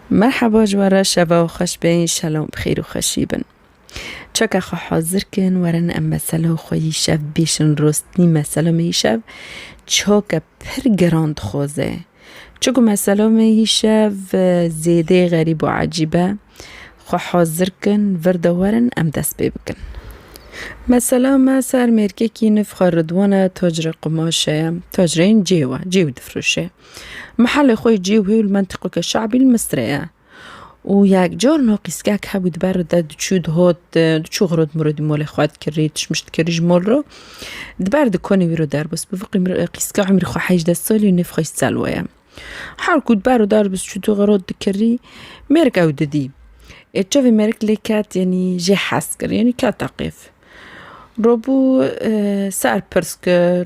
Merhaba ji we re şeva û xweş be înşela bi xêr û xweşî bin. Çeka xwe hazir kin werin em mesela xwe yî şev bêşin rostî mesela me yî şev çaka pir geran dixwaze. Çiku mesela me yî şev zêdê xerîb û ecîb e xwe hazir kin vir de werin em dest pê bikin. Mesela me ser mêrkekî nivxa Ridwan e tacirê qumaşe ye tacireyên cêw e cêw difroşe. Mihelê xwe yê cî wî li mentiqeke şe'bî li Misrê ye. Û yek car no qîskek hebû di ber de diçû dihot, diçû xirot mirot di molê xwe dikirî, tişmiş dikirî ji mol ro. Di ber di konê wî ro derbist bi vî qîska umrî xwe hejdeh salî û nêv xwe jî Selwa ye. Her ku di ber û derbist çû tu xirot dikirî, mêrik ew didî. Ê çavê mêrik lê ket yanî jê hez kir, yanî kete qêf. Robû ser pirs kir.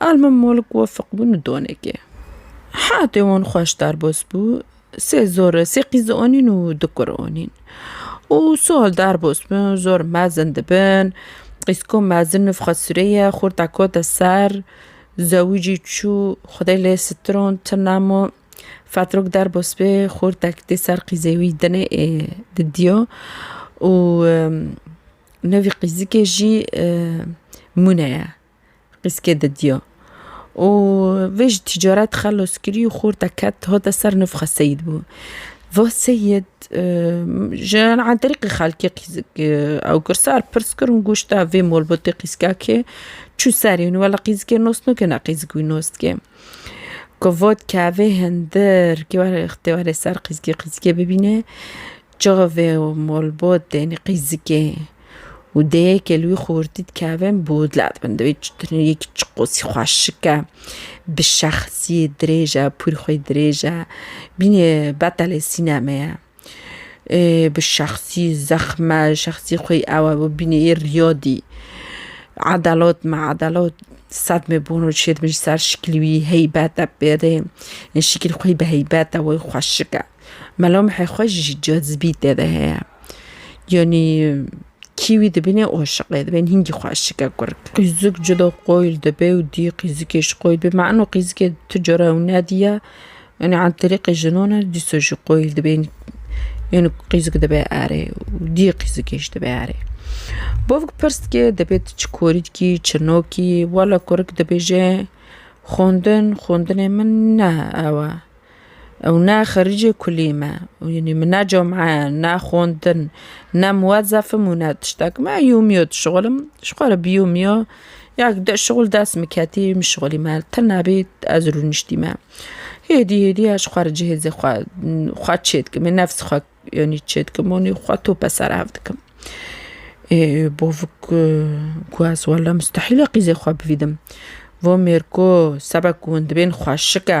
Al min Mulk Wefik bû nidonekê. Heyatê wan xweş derbas bû. Sê zor, sê qîz anîn û du kur anîn. Û sal derbas bin, zor mezin dibin. Qîz ku mezin nifxa sirê ye, xurta kete ser, zewicî çû, xwedê lê sitiron, ti nema. Fetrok derbas bê, xurtek tê ser qîzê wî dinê ê didiya û nivî qîzikê jî mûne ye. Qîskê didiya û vê ji tîcaret xelos kirî û xorta ket hate ser nifxa Seyîd bû. Va Seyîd ji an terîqî xelkê qîzik ew kir sar pirs kir û goşt da vê molbotê qîzka kê çû serê wî wela qîzikê nos nake ne qîzik wî nos dike. Ku vat kevê hindir kê were ixtê were ser qîzikê qîzikê bibîne Çavê û malbatên qîzikê û dêyekê li wî xortî dikevin bo dilat bin. Divê yekî çi qasî xweşik e, bi şexsiyê dirêj e, pûr xwê dirêj e. Bînê betelê sînemê ye. Bi şexsî zexm e, şexsî xwê ew e bo bînê yê riyadî. Edelat me edelat sedmê bûn û çêdibin ji ser şikilî wî heybet e pêrê. Şikîl xwê bi heybet e, wê xweşik e. Melamehê xwe jî cazibî tê de heye. Yanî kîwî dibîne aşiqê dibin hîngî xwe aşike kurk. Qîzik cuda qoyil dibe û dî qîzikê jî qoyil dibe. Me eno qîzikê tu cara ew nedîya. Yanî an tirîqê jinan e dîsa jî qoyil dibe. Yanî qîzik dibe erê û dî qîzikê jî dibe erê. Bavik pirs dike dibê tu çi korî dikî çi nakî. Wela kurk dibêje xwendin xwendinê min ne ew e. Ew ne xericê kulî me. Yanî min ne cum'e, ne xwendin, ne muwezefim û ne tiştek. Me yûmîyo dişixulim. Ji xwe re biyûmîyo. Ya di şixul dest min ketî, min şixulî me. Ti nebî ez rûniştî me. Hêdî hêdî ez ji xwe re cihêzê xwe xwe çê dikim. Ê nefs xwe yanî çê dikim û nî xwe tope ser hev dikim. Ê bavik ku ez wele mustehîle qîzê xwe bivîdim. Vo mêr ku sebek ku hûn dibên xweşik e.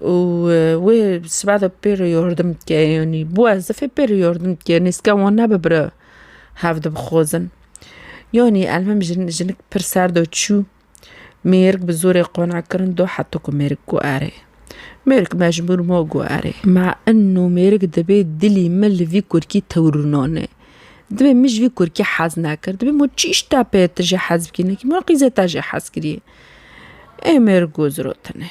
û wê sibe de pê re yardim dike yanî bi wezifê pê re yardim dike nêzika wan nebe bira hev dibixwazin yanî elmim jin jinik pir ser de çû mêrik bi zorê qane kirin do heta ku mêrik got erê mêrik mecbûr ma got erê ma ino mêrik dibê dilî min li vî kurkî tewrûnane dibê min ji vî kurkî hez nekir dibê ma çi îş te pê te jê hez bikî nekî ma qîzê te jê hez kirî ê mêrik got zirotine.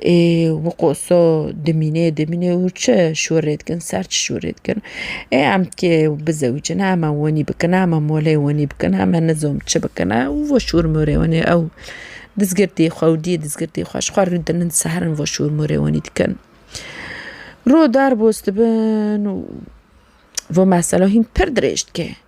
ê wi qoso dimîne dimîne û çi şûrê dikin ser çi şûrê dikin ê em kê bizewicin heme wenî bikin heme molê wenî bikin heme nizom çi bikin e û vo şûr mûrê wenê ew dizgirtê xwe û diyê dizgirtê xwe ji xwe rû dinin serin vo şûr mûrê wenî dikin ro derbos dibin û vo mesela hîn pir dirêj dike.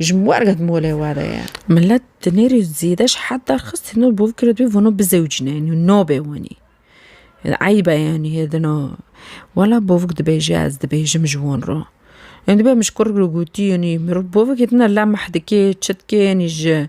Ji ber ket molê we de ye. Milet di nêrî zêde ji hed derxist hêno bo bikire dibê vano bizewicîne yanî nabê wanî. Eyb e yanî hêdino. Wela bavik dibêje ez dibêjim ji wan re. Yanî dibê min ji kurr re gotî yanî mirov bavik hêdina lem mehdikê, çitkê yanî ji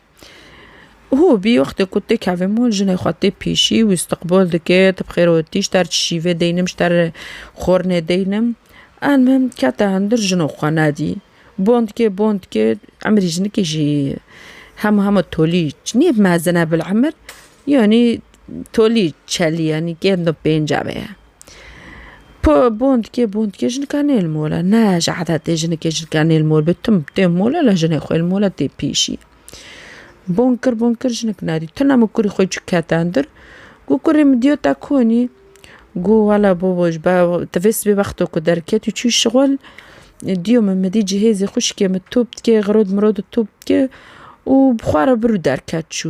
Hû bî wextê ku tê kevê mol jinê xwe tê pêşî wî istiqbol dike ti bi xêro tî ji te re çi şîvê deynim ji te re xornê deynim almim kete hundir jino xwe nedî bond dike bond dike emirî jinikê jî hema hema tolî niyê mezin e bil emir yanî tolî çelî yanî kêm di pêncavê ye. Po bondkê bondkê jinika nê li mol e. Ne ji edetê jinikê jinika nê li mol be tim tê mol e la jinê xwe li mol e tê pêşî. Bong kir bong kir jinik nerî. Tu ne min kurê xwe çi kete ndir. Got kurê min diyo te konî. Got wela babo ji ber tu vê sibê wexto ku derketî çû şixul diyo min mi dî cihêzê xwişkê min top dike xirod mirod top dike û bi xwe re bir û derket çû.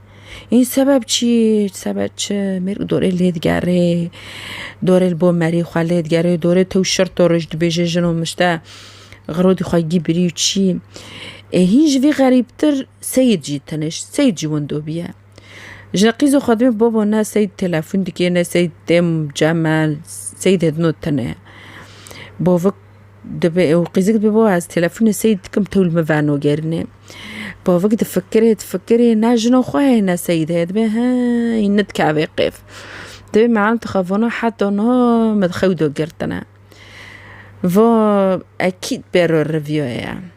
Î sebeb çî sebeb çi mêrg dorê lê digerê dorê li bo merî xwe lê digerê dorê tew şir to roj dibêje jin û mişte xirodî xwe gî birî û çî ê hîn ji vî xerîbtir seyid jî teniş seyid jî windo bîye ji qîzo xwe dibê babo ne seyid telefon dike ne seyid têm cem e seyid hêdino tine bo vik Dibe ew qîzik dibe bo ez telefonê sey dikim tewl min vano gerinê. Bavik difikirê difikirê ne jina xwe heye ne seyîd heye dibe he hîn nidikevê qêf. Dibe me an dixevana heta na min xew do girtine. Va ekîd bêro revîyoye.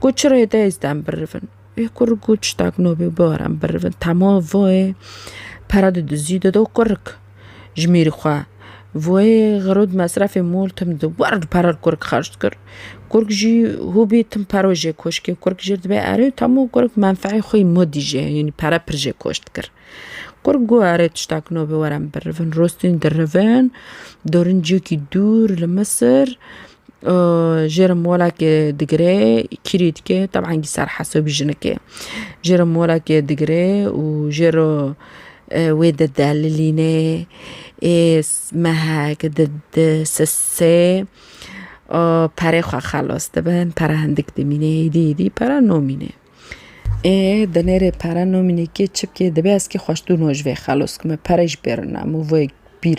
Ku çi rê de ez dem birivin. Ê kurik got tiştak no bê bibar em birivin. Tema voyê pere didizî dido kurik ji mêrî xwe. Voyê xirûd mesrefê mûl tim dido wer di pere li kurik xerc dikir. Kurik jî hûbî tim pero jê koş kir. Kurik jê re dibê erê û tema kurik menfeê xwe yê modî jê yanî pere pir jê koş dikir. Kurik got erê tiştak no bê were em birivin. Rûstîn dirivin dorînciyekî dûr li Misir. Jêr molekê digirê kîrî dike teban ser hesabî jinikê jêr molekê digirê û jêr wê di delilîne ê mehek di di sise perê xwe xelas dibe pere hindik dimîne êdî êdî pere namîne ê di nêrê pere namîne kê çi bikê divê ez kê xweş dûna ji vê xelas bikima pere jî pêro namû vê bîr.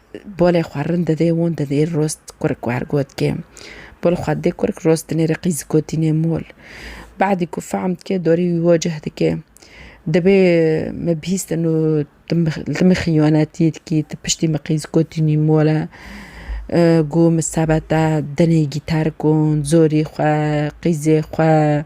Bolê xwe rind didê won didê rost kurk wer got kê. Bol xwe didê kurk rost dinê rê qîz gotînê mol. Badî ku fehm dikê dorî wî wocih dikê. Dibê min bihîstin û tu min xîyanetî dikî tu piştî min qîz gotînî mol e. Gû min sebete dinê gîtar gon zorî xwe qîzê xwe.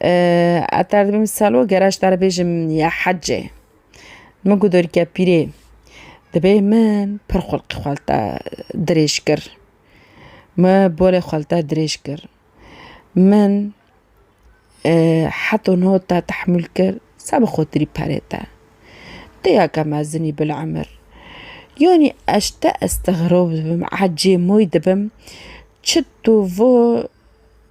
Heta dibim salo gerek ji te re bêjim ya hecê, min ku dorîka pîrê dibê min pir xulqê xwe li te dirêj kir, min bolê xwe li te dirêj kir, min heto niho te tehmûl kir se bi xotirî perê te, dêyaka mezinî bil emir, yanî ez ji te estegrab dibim, ecê moy dibim, çi tu vir.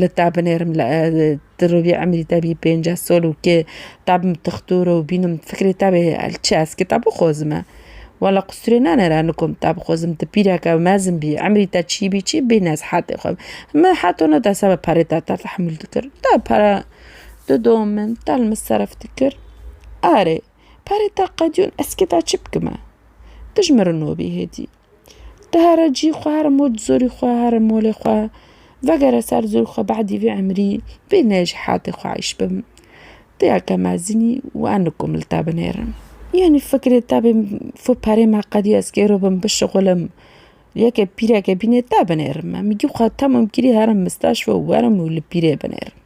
Li te binêrim li ti rûvî emrî te bî pênce sol û kê te bim tixtur û bînim fikrê te bê çi ez kê te bixozime wela qusirê nenêre li kom te bixozim tu pîreke mezin bî emrî te çî bî çî bê nez hetê xwe min heto ne desa be perê te te tehmûl dikir te pere di do min te li min serf dikir erê perê te qedîyon ez kê te çi bikime tu ji min re nobî hêdî. Tu here cî xwe here mol di zorî xwe here molê xwe vegere ser zorî xwe behdî vê emrî vê ne ji heatê xwe eîş bi. Tu ya ke mezinî wan nikom li te binêrin. Yanî fikrê te bên fi perê me qedî ez kêro bim bişixulim yekê pîreke bîne te binêrin me. Min gî xwe temam kirî herim misteşfa û werim û li pîrê binêrim.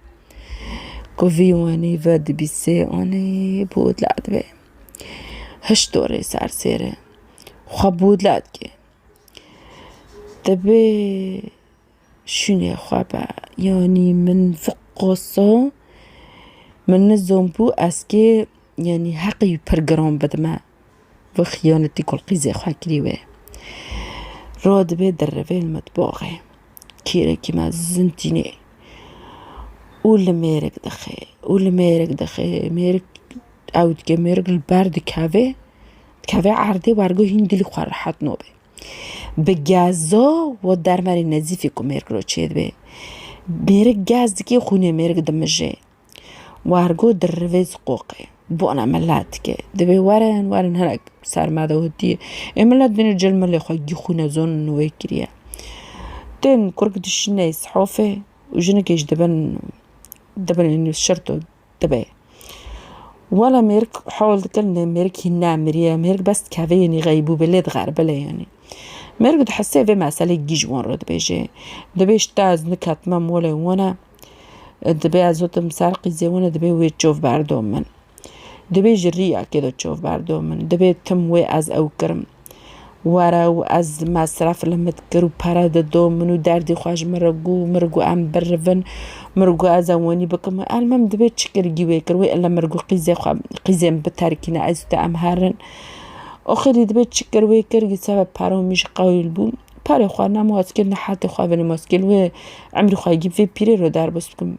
Ku vî wanî ve dibî sê anî bû dila dibe. Hişt dorê sersêre. Xwe bûrla dike. Divê şûnê xwe be. Yanî min fiqoso min nizom bû ez kê yanî heqê wî pir giran bidime. Vê xiyanetî ku li qîzê xwe kirî wê. Ra divê dirivê li mitbaxê. Kêrekî me zind tîne û li mêrik dixe û li mêrik dixe mêrik ew dike mêrik li ber dikeve. Kevê erdê wergo hîn dilî xwe rehet nobe. Bi gezo wo dermerê nezîfî ku mêrik lo çêdibê. Mêrik gez dikê xûnê mêrik dimijê. Wergo di rivê ziqoqê. Bona mela dike. Dibê werin werin hinek ser me de hotiyê. Ê mela dino cil milê xwe gî xûne zonê nû wê kiriye. Tên kurk dişîne îshofê û jinikê jî dibin dibin şirto Dibe. Wela mêrik hewl dikin lê mêrik hîn nemiriye. Mêrik bes dikeve yenî xeybû be lê dixeribe lê yenî. Mêrik di hesê vê meselê gîj wan re dibêje. Dibê ji te ez niketime molê wina, dibê ez zotim ser qîzê wina dibê wê çov berdo min. Dibê ji rîyakê de çov berdo min. Dibê tim wê ez ew kirim. Were û ez mesref li min dikir û pere dido, min û derdê xwe ji min re gû, min gû em birivin, min gû ez e wenî bikim. Elmim divê çi kirgî wê kir wê ile min gû qîzê xwe qîzê min biterkîne ez û te em herin. Oxirî divê çi kir wê kir dîsa ve pere û mij qewîl bû. Perê xwe ne moskil ne hetê xwe vinî moskil wê emrî xwe yê vê pîrê re derbas bikim.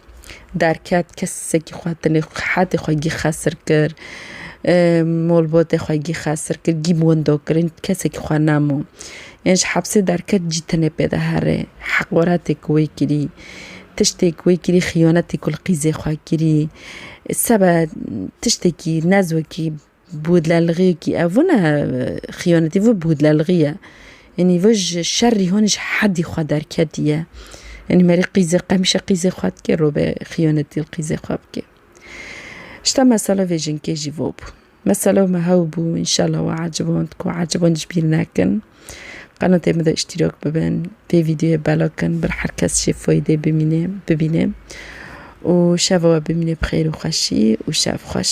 Derket kesekî xwe tenê xehatê xwe gî xesir kir, molbotê xwe gî xesir kir, gî bi windo kir, hîn kesekî xwe nemû. Yên ji hepsê derket jî tenê pê de herê. Heqaretê ku wê kirî, tiştê ku wê kirî, xiyonetê ku li qîzê xwe kirî, sebe tiştekî nezokî Bûdlelgî kî ev vû ne xiyanetî vû bûdlelgî ye. Enî vû ji şerî hûn ji hedî xwe derketiye. Enî merî qîzê qemîşe qîzê xwe dike robe xiyanetî li qîzê xwe bike. Ji te mesela vê jinkê jî vû bû. Mesela me hew bû înşela we eciband ku eciband ji bîr nekin. Qenatê min de îştîrak bibin vê vîdeoyê bela kin ber her kes jê faydê bimîne bibîne. Û şeva we bimîne bi xêr û xweşî û şev xweş.